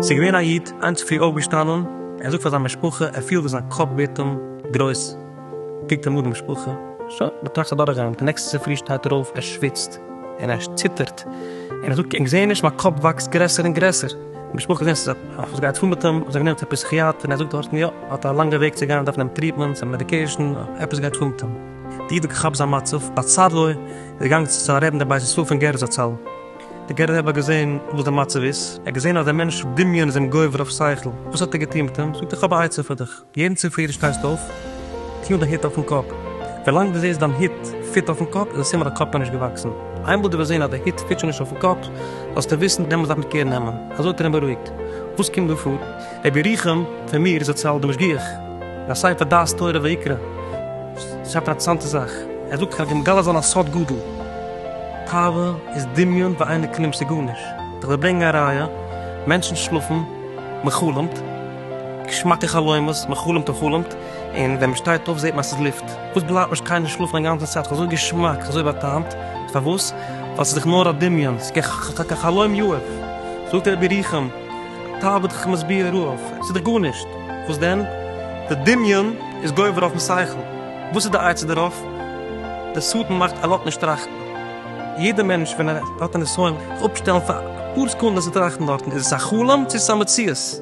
ס'איז געווען א איד, היינט צופרי אויפגעשטאנען, ער זאגט פאר זיין משפחה ער פילט ווי זיין קאפ ווערט אים גרויס, קוקט אים אן די משפחה, שוין, מ'טראכט אדורך גיין, די נעקסטע צופרי שטייט ער אויף, ער שוויצט, און ער ציטערט, און ער זאגט, איך זעה נישט, מיין קאפ וואקסט גרעסער און גרעסער, די משפחה זעהן ס'איז עפעס גייט פאר מיט אים, האבן זיי אים גענומען צו א פסיכיאטער, און ער זאגט דארטן, יא, האט א לאנגע וועג צו גיין, דארף נעמען טריטמענטס און מעדיקעישן, עפעס גייט פאר מיט אים. די איד האט געכאפט זיין מצב, באצד לו, איז געגאנגען צו צו א רב אין די בית ישראל פון גער זצל, די גערער רב האט געזעהן וואס די מצב איז, ער האט געזעהן אז דער מענטש דמיון איז אים גובר אויף שכל, וואס האט ער געטוהן מיט אים, זאגט ער, איך האב א עצה פאר דיך. יעדן צופרי דו שטייסט אויף, טוה די הוט אויפן קאפ. ווילאנג דו זעסט דיין הוט פיט אויפן קאפ איז א סימן אז די קאפ נאכנישט געוואקסן. איינמאל דו וועסט זען אז די הוט פיט שוין נישט אויפן קאפ, זאלסטו וויסן דעמאלטס דארף מען קער נעמען. אזוי האט ער אים בארואיגט. וואס קומט דא פאר? רבי ירוחם פון מיר זצל די משגיח אין א ספר דעת תורה ויקרא שרייבט אן אטרעסאנטע זאך, ער זאגט כ'האב מגלה זיין א סוד גדול, תאווה איז דמיון ואינו כלום ס'איז גארנישט, כ'וועל ברענגן א ראיה, מענטשן שלאפן, מ'חלומ'ט. געשמאקע חלומות, מען חלומט און חלומט, און ווען מען שטייט אויף זעט מען אז ס'איז לופט. וואס בלייבט נישט קיינער שלאפן א גאנצע צייט, אזוי געשמאק, אזוי באטעמט, פארוואס? ווייל ס'איז דאך נאר א דמיון, ס'איז קיין חלום יעוף. זאגט רבי ירוחם, טל בד כ מסביר אויף, ס'איז דאך גארנישט, וואס דען? די דמיון איז גובר אויפן שכל, וואס איז די עצה דערויף? די שטן מאכט א לאט נישט טראכטן, יעדער מענטש ווען ער האט א נסיון זיך אפשטעלן פאר אפאר סעקונדעס צו טראכטן דארטן, איז עס א חלום צו איז עס א מציאות?